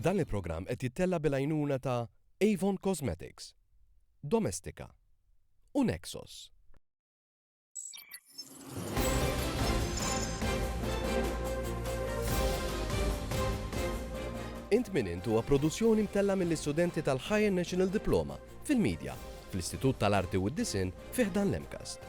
Dan il-programm qed jittella' bil-għajnuna ta' Avon Cosmetics, Domestika u Nexos. Int Min Int huwa produzzjoni mtellgħa mill-istudenti tal-Higher National Diploma fil-Media fl-Istitut tal-Arti u d-Disinn fi ħdan l-MCAST.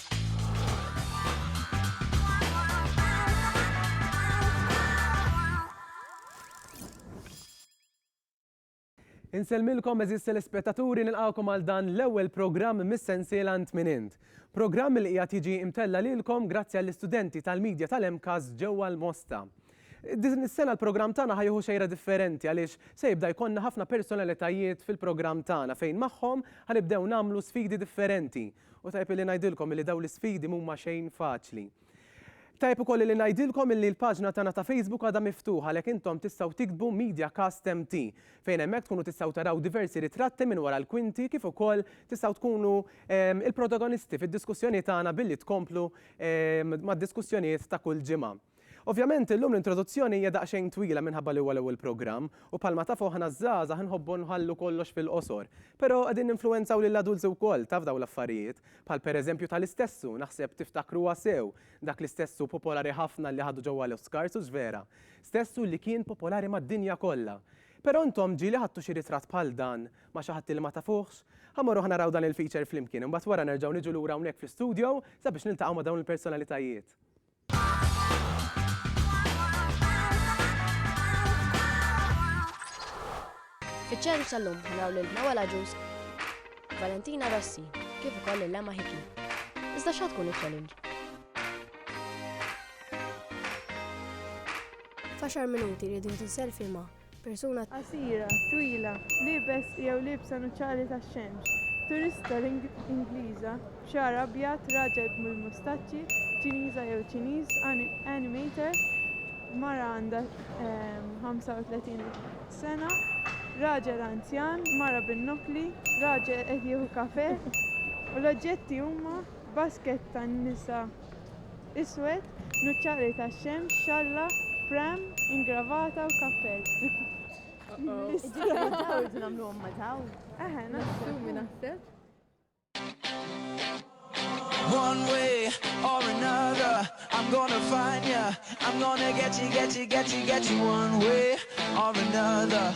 Insellmilkom għeżież telespettaturi nilqgħukom għal dan l-ewwel programm mis-sensiela Int Min Int. Programm li qiegħed jiġi mtella' lilkom grazzi għall-istudenti tal-Media tal-MCAS ġewwa l-Mosta. Din is-sena l-programm tagħna ħa jieħu xejra differenti għaliex se jibda jkollna ħafna personalitajiet fil-programm tagħna fejn magħhom ħa nibdew nagħmlu sfidi differenti U tajjeb illi ngħidilkom illi dawn l-isfidi m'huma xejn faċli. Tajjeb ukoll illi ngħidilkom illi l-paġna tagħna ta' Facebook għadha miftuħa għalhekk intom tistgħu tiktbu MediaCast MT fejn hemmhekk tkunu tistgħu taraw diversi ritratti minn wara l-kwinti kif ukoll tistgħu tkunu il-protagonisti fid-diskussjoni tagħna billi tkomplu mad-diskussjonijiet ta' kull ġimgħa. Ovvjament, illum l-introduzzjoni hija daqsxejn twila minħabba li huwa l-ewwel programm, u bħalma tafu aħna ż-żgħażagħ inħobbu nħallu kollox fil-qosor. Però qegħdin ninfluwenzaw lill-adults wkoll, taf dawn l-affarijiet. Bħal pereżempju tali stessu, naħseb tiftakruha sew, dak li stessu popolari ħafna li ħadu ġewwa l-Oscars, hux vera? Stessu li kien popolari mad-dinja kollha. Però intom ġieli ħadtu xi ritratt bħal dan ma' xi ħadd li ma tafuhx? Ħa mmorru ħa naraw dan il-feature flimkien, imbagħad wara nerġgħu niġu lura hawnhekk fl-istudio sabiex niltaqgħu ma' dawn il-personalitajiet. Fiċ-ċentru tal-lum naraw lil Noel Aġus, Valentina Rossi, kif ukoll lil Emma Hickey. Iżda x'ha tkun iċ-challenge? F'għaxar minuti rridu ntinsel filma Persuna. Qasira, twila, liebes jew liebsa nuċali tax-xemx. Turista Ingliża, b'xagħar abjad, raġel bil-mustaċċi, Ċiniża jew Ċiniż, animator, mara għandha 35 ehm, sena, raġel anzjan, mara bin-nokli, raġel qed jieħu kafe, u l-oġġetti huma basket tan-nisa Iswed, nuċċali tax-xemx, xalla, pram, ingravata u kappell. One way or another, I'm gonna find ya, I'm gonna get ya, get ya, get ya, get ya, one way or another.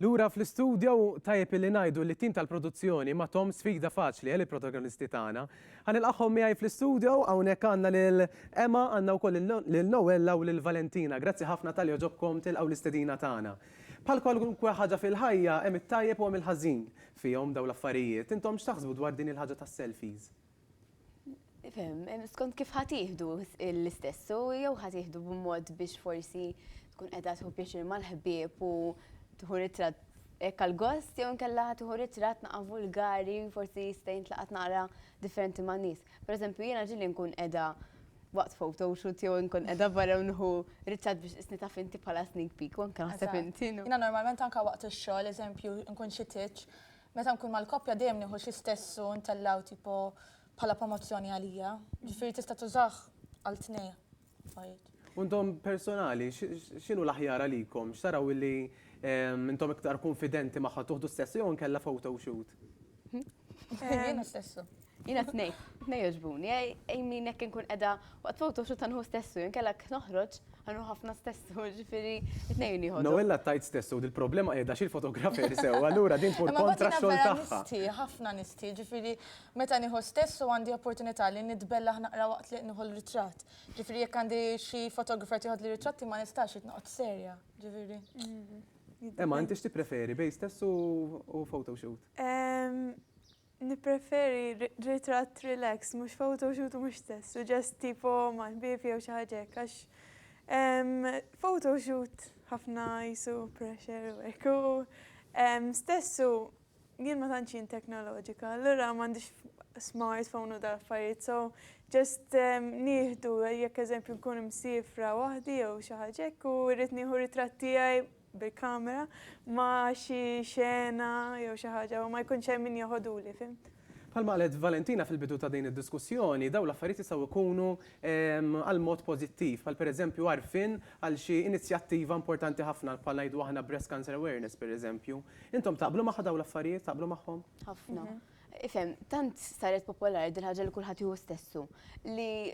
Lura fl-istudjo u tajjeb illi ngħidu li t-tim tal-produzzjoni ma thom sfida faċli għal il-protagonisti tagħna. Ħa nilqagħhom miegħi fl-istudjo, hawnhekk għandna lil Emma, għandna wkoll lil Noella u lil Valentina. Grazzi ħafna talli għoġobkom tilqgħu l-istedina tagħna. Bħal kwalunkwe ħaġa fil-ħajja hemm it-tajjeb u hemm il-ħażin fihom dawn l-affarijiet. Intom x'taħsbu dwar din il-ħaġa tas-selfies? Skont kif ħadd jieħdu l-istess, u jew ħadd jieħdu b'mod biex forsi tkun qiegħda tħu pjaċir mal-ħbieb u tħu ritratt hekk għall-gost, jew inkella ħadd tħu ritratt naqa' vulgari, forsi jista' jintlaqat naqra differenti ma' nies. Per eżempju, jiena ġieli nkun qiegħda waqt photo shoot jew inkun qiegħda barra u nħu ritratt biex isni taf inti bħala sneak peek, u anke naħseb inti. Jiena normalment anke waqt ix-xogħol, eżempju, nkun xi tieġ, Meta nkun mal-koppja dejjem nieħu xi stess u ntellgħu tipo bħala promozzjoni għalija. Ġifieri tista' tużah għal tnejn affarijiet. U intom personali, x'inhu l-aħjar għalikom? X'taraw illi intom iktar kunfidenti magħha tuħdu stess jew inkella photoshoot? Jiena stess. Jiena t-nej, t-nej joġbuni, ej min hekk inkun qiegħda waqt photo shoot ħa nħu stessu, inkella jekk noħroġ ħa nħu ħafna stessu, ġifieri t-nej huni ħodhom. Noella tgħid stessu u dil-problema qiegħda xi l-fotografer sew, allura din tmur kontra x-xogħol tagħha. Imma mbagħad jiena vera nistħi, ħafna nistħi, ġifieri meta nieħu stessu għandi opportunità li nitbellaħ naqra waqt li nieħu l-ritratt. Ġifieri jekk għandi xi fotografer tieħodli ritratti ma nistax, irid noqgħod serja, ġifieri. Emma, inti x'tippreferi bejn stessu u photo shoot? Nippreferi ritratt relaxed, mhux photoshoot u mhux stess u just tipo mal-ħbieb jew xi ħaġa hekk għax photoshoot ħafna qisu pressure u hekk u stess u jien ma tantx jien teknoloġika allura m'għandix smartphone u dal-affarijiet so just nieħdu jekk eżempju nkun imsiefra waħdi jew xi ħaġa hekk u rrid nieħu ritratt tiegħi bil-kamera ma' xi xena jew xi ħaġa u ma jkunx hemm min jeħoduli, fhimt? Bħalma qalet Valentina fil-bidu ta' din id-diskussjoni, dawn l-affarijiet jistgħu jkunu għal mod pożittiv, bħal pereżempju għarfien għal xi inizjattiva importanti ħafna bħal ngħidu aħna Breast Cancer Awareness pereżempju. Intom taqblu magħha dawn l-affarijiet, taqblu magħhom? Ħafna. Ifhem, tant saret popolari din il-ħaġa li kulħadd jieħu stessu, li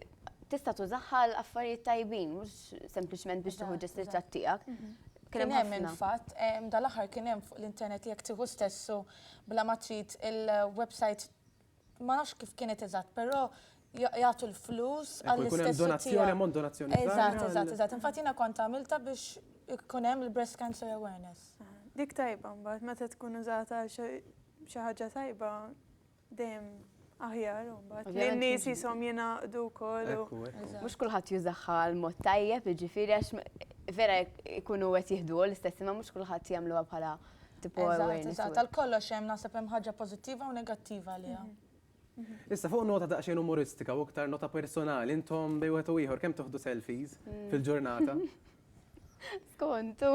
tista' tużaha għal affarijiet tajbin, mhux sempliċement biex tieħu ġest ritratt tiegħek. Kien hemm il-fatt, dal-aħħar kien hemm fuq l-internet li jekk tieħu stessu bla ma trid il-website ma nafx kif kienet eżatt, però jagħtu l-flus għall-istess donazzjoni ammont donazzjoni. Eżatt, eżatt, eżatt. Infatti jiena kont għamilta biex ikun hemm il-breast cancer awareness. Dik tajba mbagħad meta tkun użata xi ħaġa tajba dejjem aħjar mbagħad. Li n-nies jisom jingħaqdu wkoll. Mhux kulħadd jużaha l-mod tajjeb, jiġifieri għax vera jkunu qed jieħdu l-istess imma mhux kulħadd jagħmluha bħala tipo awareness. Tal-kollox hemm naħseb hemm ħaġa pożittiva u negattiva għaliha. Mhm. Issa fuq nota daqsxejn umoristika u iktar nota personali, intom bej wieħed u ieħor kemm toħdu selfies hmm. fil-ġurnata? Skontu,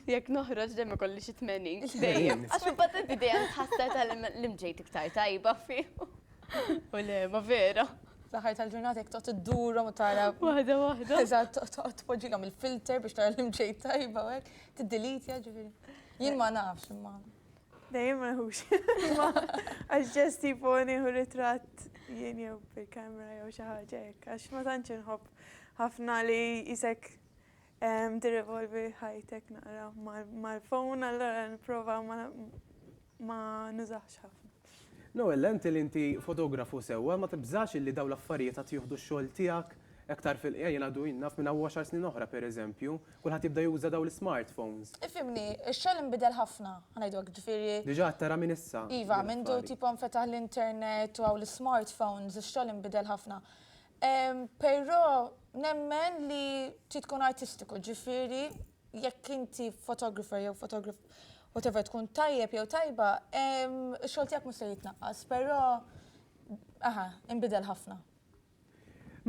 jekk noħroġ dejjem ikolli xi tmenin. Dejjem. Għax imbagħad inti dejjem tħassar tal-imġejt iktar tajba fih. U le, ma vera. L-aħħar tal-ġurnata jekk toqgħod iddurhom u tara. Waħda waħda. Eżatt, toqgħod tpoġġilhom il-filter biex tara l-imġejt tajba hekk, tiddilitja ġifieri. Jien ma nafx imma. Dejjem ma nħux. Għax ġest tipo nieħu ritratt jien jew bil-kamera jew xi ħaġa hekk, għax ma tantx inħobb ħafna li jisek tirrivolvi ħajtek naqra mal-phone, allora nipprova ma nużax ħafna. Noelle, inti li inti fotografu sewwa, ma tibżax illi dawn l-affarijiet għad jieħdu x-xogħol tiegħek aktar fil-qija? Jien għadu naf minn hawn għaxar snin oħra, pereżempju, Kulħadd jibda juża dawn l-ismartphones. Ifhimni, ix-xogħol inbidel ħafna, ħa ngħidu hekk, ġifieri. Diġà qed tara minn issa. Iva, mindu tipo nfetaħ l-internet u hawn l-ismartphones, ix-xogħol inbidel ħafna. Però nemmen li trid tkun artistiku, ġifieri jekk inti photographer jew whatever tkun tajjeb jew tajba, ix-xogħol tiegħek mhux se jitnaqqas, però, aha, inbidel ħafna.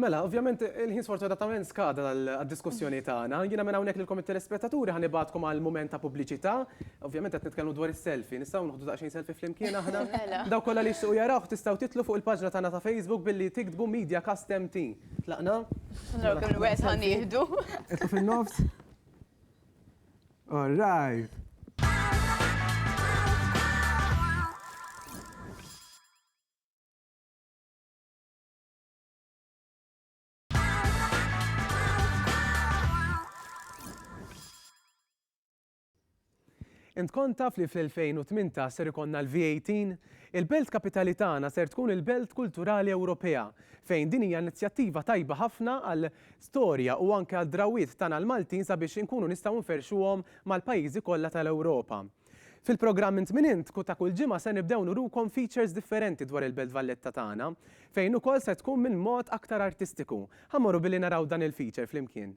Mela, ovvjament il-ħin sfortunatament skada għad-diskussjoni tagħna. Jiena minn hawnhekk lilkom it-telespettaturi ħa nibgħatkom għal mument ta' pubbliċità. Ovvjament qed nitkellmu dwar is-selfie. Nistgħu noħdu daqsxejn selfie flimkien aħna? Mela. Dawk kollha li jixtiequ jarawh tistgħu titlu fuq il-paġna tagħna ta' Facebook billi tiktbu Media Cast MT. Tlaqna? Naraw kemm il-waqt ħa nieħdu. Itlu fin-nofs. All right. Int kont taf li fl-2008 ser ikonna l-V18? Il-Belt Kapitali tagħna ser tkun il-Belt Kulturali Ewropea, fejn din hija inizjattiva tajba ħafna għal storja u anke għal drawiet tagħna l-Maltin sabiex inkunu nistgħu nferxuhom mal-pajjiżi kollha tal-Ewropa. Fil-programm Int Min Int ta' kull ġimgħa se nibdew nurukom features differenti dwar il-Belt Valletta tagħna, fejn ukoll se tkun minn mod aktar artistiku. Ħa mmorru billi naraw dan il-feature flimkien.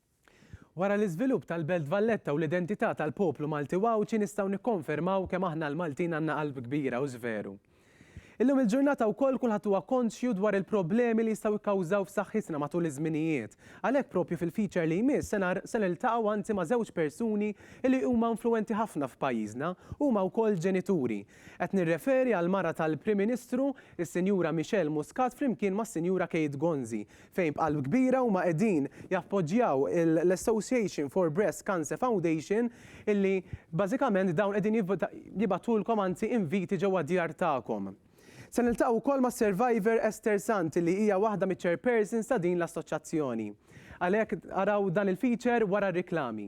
Wara l-iżvilupp tal-Belt Valletta u l-identità tal-poplu Malti u Għawdxi nistgħu nikkonfermaw kemm aħna l-Maltin għandna qalb kbira u żveru. Illum il-ġurnata wkoll kulħadd huwa konxju dwar il-problemi li jistgħu kkawżaw f'saħħitna matul iż-żminijiet. Għalhekk propju fil-feature li jmiss se niltaqgħu anzi ma' żewġ persuni li huma influwenti ħafna f'pajjiżna, huma wkoll ġenituri. Qed nirreferi għall-mara tal-Prim Ministru, is-Sinjura Michelle Muscat flimkien mas-Sinjura Kate Gonzi, fejn b'qalb kbira huma qegħdin jappoġġjaw l-Association for Breast Cancer Foundation illi bażikament dawn qegħdin jibgħatulkom anzi inviti ġewwa d-djar tagħkom. Se niltaqgħu wkoll mas-survivor Esther Sant li hija waħda miċ-chairpersons ta' din l-assoċjazzjoni. Għalhekk araw dan il-feature wara r-riklami.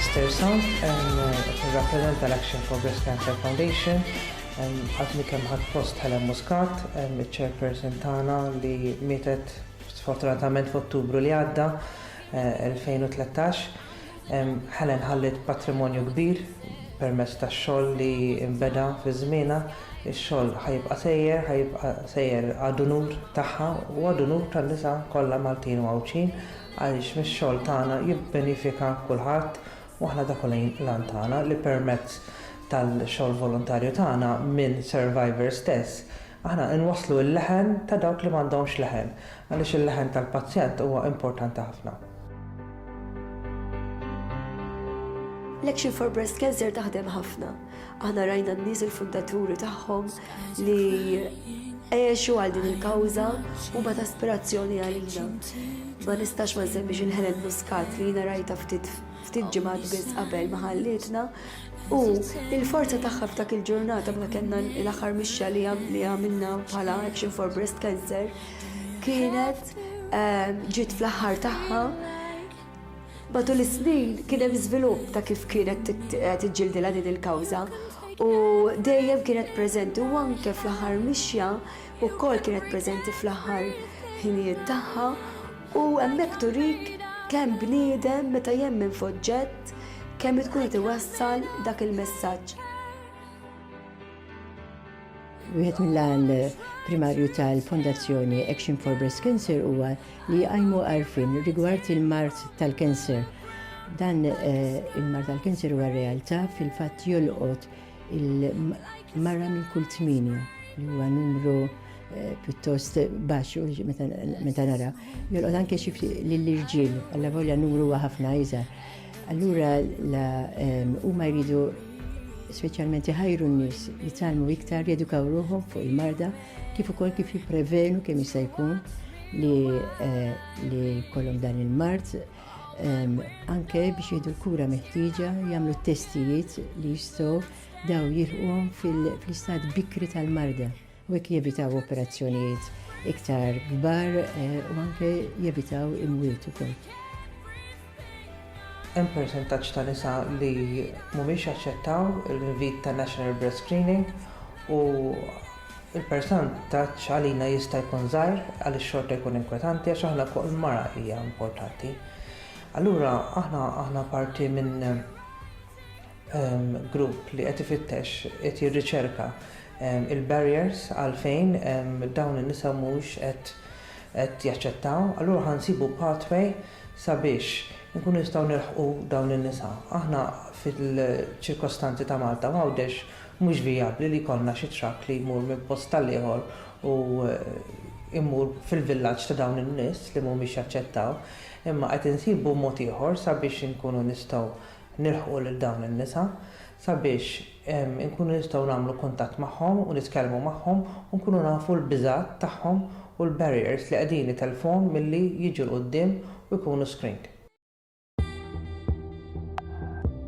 Esther Sant, qed nirrappreżenta l-Action for Breast Cancer Foundation. Għadni kemm ħadt post Helen Muscat, iċ-Chairperson tagħna li mietet sfortunatament f'Ottubru li għadda, 2013. Helen ħalliet patrimonju kbir permezz tax-xogħol li nbeda fi żmienha. Ix-xogħol ħa jibqa' sejjer, ħa jibqa' sejjer għad-unur tagħha u għad-unur tan-nisa kollha Maltin u Għawdxin għaliex mix-xogħol tagħna jibbenifika kulħadd u aħna dak hu l-għan tagħna li permezz tal-xogħol volontarju tagħna minn survivor stess aħna nwasslu l-leħen ta' dawk li m'għandhomx leħen għaliex il-leħen tal-pazjent huwa importanti ħafna. L-Action for Breast Cancer taħdem ħafna. Aħna rajna n-nies il-fundaturi tagħhom li għexu għal din il-kawża u ma ta' aspirazzjoni għalina. Ma nistax ma nsemmix il-Helen Muscat li jina rajta ftit ftit ġimgħat biss qabel ma ħallitna u il-forza tagħha f'dak il-ġurnata ma kellna l-aħħar mixja li għamilna bħala Action for Breast Cancer Kienet ehm, ġiet fl-aħħar tagħha matul is-snin kien hemm żvilupp ta' kif kienet tiġġildilha din il-kawża u dejjem kienet preżenti u anke fl-aħħar mixja wkoll kienet preżenti fl-aħħar ħinijiet tagħha u hemmhekk turik kemm bniedem meta jemmen f'oġġett kemm tkun qed iwassal dak il-messaġġ. Wieħed mill-għan primarju tal-Fondazzjoni Action for Breast Cancer huwa li jqajmu għarfien rigward il-mart tal-kanser. Dan eh, il-mart tal-kanser huwa realtà fil-fatt jolqot il-mara minn kull tminja li huwa numru eh, pjuttost baxx meta nara. Jolqot anke xi lill-irġiel, għalla volja numru huwa ħafna iżgħar. Allura huma jridu speċjalment iħajru n-nies li talmu iktar jedukaw ruħhom fuq il-marda kif ukoll kif jipprevenu kemm jista' jkun li eh, li kollhom dan il-mard ehm, anke biex jieħdu l-kura meħtieġa jagħmlu t-testijiet li jistgħu daw jilħuhom fil-istat bikri tal-marda. u hekk jevitaw operazzjonijiet iktar kbar u anke jevitaw imwiet ukoll. Hemm persentaġġ ta' nisa li mhumiex jaċċettaw l-invit tan-National Breast Screening u l-persantaġġ għalina jista' jkun żgħir għaliex xorta jkun inkwetanti għax aħna kull mara hija importanti. Allura aħna aħna parti minn grupp li qed ifittex, qed jirriċerka l-barriers għalfejn dawn in-nisa mhux qed jaċċettaw, allura ħa nsibu pathway sabiex inkunu nistgħu nilħqu dawn in-nisa. Aħna fil-ċirkostanzi ta' Malta u Għawdex mhux vijabbli li jkollna xi truck li jmur minn post għall-ieħor u jmur fil-villaġġ ta' dawn in-nies li mhumiex jaċċettaw, imma qed insibu mod ieħor sabiex inkunu nistgħu nilħqu lil dawn in-nisa sabiex inkunu nistgħu nagħmlu kuntatt magħhom u nitkellmu magħhom u nkunu nafu l-biżgħat tagħhom u l-barriers li qegħdin itellfuhom milli jiġu 'l quddiem u jkunu screened.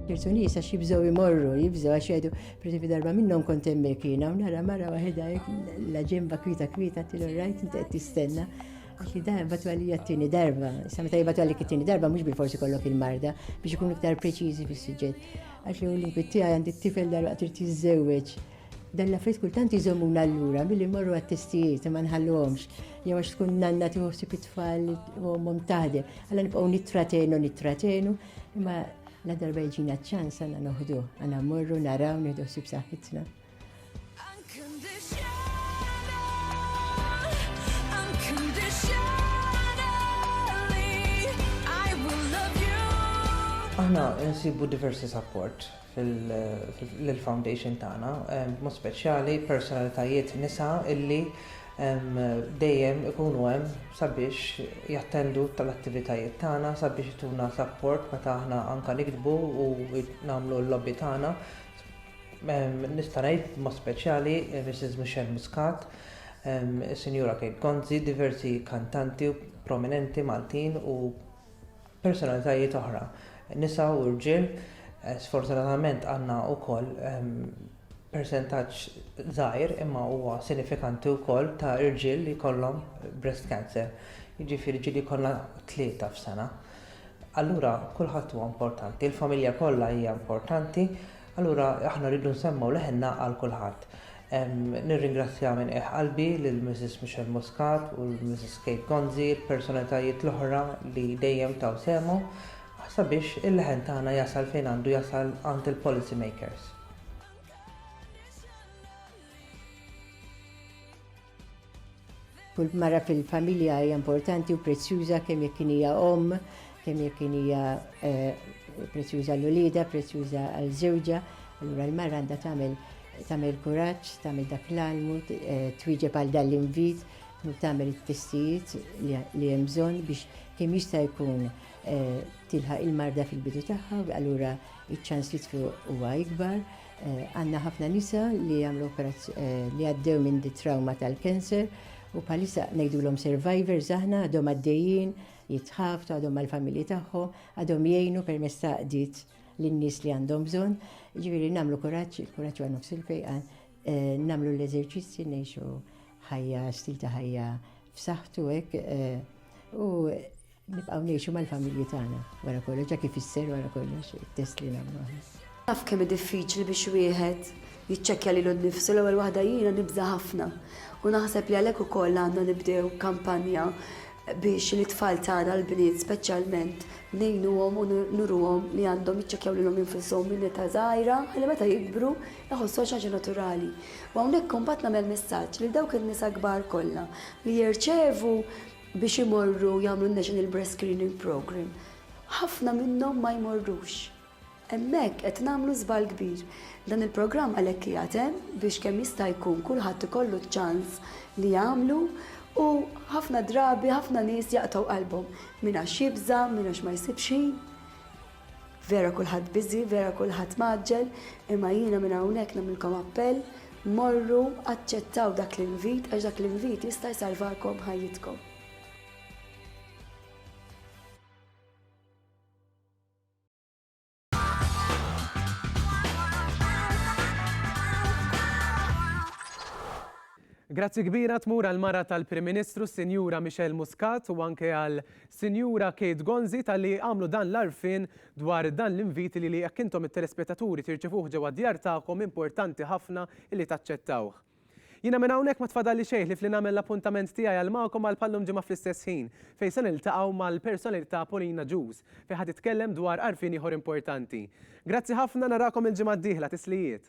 Ċertu nies għax jibżgħu jmorru, jibżgħu għax jgħidu, pereżempju darba minnhom kont hemmhekk jiena u nara mara waħedha hekk la ġenba kwieta kwieta għedtilha rajt inti qed tistenna. Għax li dan batu għalli għattini darba, sa meta jibatu għalli għattini darba, mux bil-forsi kollok il-marda, biex ikun iktar preċizi fis suġġett Għax li l bitti għaj għandi t-tifel darba għatir tizzewċ. Dan la frit kultant jizomuna l-lura, mill-li morru għat-testijiet, ma nħallomx. Jew għax tkun nanna tiħossi pitfall u mom taħde. Għalla nibqaw nitratenu, nitratenu, imma la darba jġina ċans għanna noħdu, għanna morru, naraw, nħdu s-sibsaħitna. Aħna nsibu diversi support fil-foundation tagħna, mod speċjali personalitajiet nisa illi dejjem ikunu hemm sabiex jattendu tal-attivitajiet tagħna sabiex ituna support meta aħna anka nikdbu u nagħmlu l-lobby tagħna Nista' ngħid b'mod speċjali Mrs. Michelle Muscat, is-Sinjura Kate Gonzi, diversi kantanti prominenti Maltin u personalitajiet oħra, nisa u rġiel. Sfortunatament għandna wkoll persentaġġ żgħir imma huwa sinifikanti wkoll ta' irġiel li jkollhom breast cancer. Jiġifieri ġieli jkollna tlieta f'sena. Allura kulħadd huwa importanti, il-familja kollha hija importanti, allura aħna rridu nsemmgħu leħinna għal kulħadd. Nirringrazzja minn qiegħ qalbi lil Mrs. Michelle Muscat u Mrs. Kate Gonzi, il-personalitajiet l-oħra li dejjem taw sehemhom sabiex il-leħen tagħna jasal fejn għandu jasal għand il-policy makers. Kull mara fil-familja hija importanti u prezzjuża kemm jekk hija omm, kemm jekk hija eh, prezzjuża l-ulieda, prezzjuża għal żewġa, allura l-mara għandha tagħmel tagħmel kuraġġ, tagħmel dak l-almu, eh, twieġeb għal dan l-invit, u tagħmel it-testijiet li hemm bżonn biex kemm jista' jkun eh, tilħaq il-marda fil-bidu tagħha, allura iċ-ċans li tfiq huwa ikbar. Għandna ħafna nisa li għamlu li għaddew minn di trauma tal-cancer u bħalissa ngħidulhom survivors aħna għadhom għaddejjin jitħaftu għadhom mal-familji tagħhom, għadhom jgħinu permezz ta' qdiet lin-nies li għandhom bżonn, ġifieri nagħmlu kuraġġ, il-kuraġġ huwa nofs il-fejqan, eh, nagħmlu l-eżerċizzji ngħixu ħajja stil ta' ħajja f'saħħtu hekk eh, u Nibqgħu ngħixu mal-familji tagħna wara kollox, dak ifisser wara kollox it-test li nagħmlu aħna. Taf kemm hi diffiċli biex wieħed jiċċekkja lilu nnifsu l-ewwel waħda jiena nibża' ħafna u naħseb li għalhekk ukoll għandna nibdew kampanja biex lit-tfal tagħna l-bniet speċjalment ngħinuhom u nuruhom li għandhom jiċċekkjaw lilhom infushom minn età żgħira ħalli meta jikbru jħossuha xi ħaġa naturali. U hawnhekk imbagħad nagħmel messaġġ lil dawk in-nisa kbar kollha li jirċevu biex imorru jagħmlu n-National Breast Screening Programme, ħafna minnhom ma jmorrux. Hemmhekk qed nagħmlu żball kbir. Dan il-programm għalhekk qiegħed hemm biex kemm jista' jkun kulħadd ikollu ċ-ċans li jagħmlu u ħafna drabi ħafna nies jaqtgħu qalbhom, min għax jibża', min għax ma jsibx ħin. Vera kulħadd busy, vera kulħadd mgħaġġel, imma jiena minn hawnhekk nagħmlilkom appell, morru, aċċettaw dak l-invit għax dak l-invit jista' jsalvalkom ħajjitkom. Grazzi kbira tmur għall-mara tal-Prim Ministru, Sinjura Michelle Muscat u anke għal Sinjura Kate Gonzi talli għamlu dan l-għarfien dwar dan l-invit li jekk intom it-telespettaturi tirċevuh ġewwa d-djar tagħkom importanti ħafna illi taċċettawh. Jiena minn hawnhekk ma tfadalli xejn ħlief li nagħmel l-appuntament tiegħi għal magħkom għal bħal-lum ġimgħa fl-istess ħin fejn se niltaqgħu mal-personalità Pauline Agius fejn ħa titkellem dwar għarfien ieħor importanti. Grazzi ħafna narakom il-ġimgħa d-dieħla tislijiet.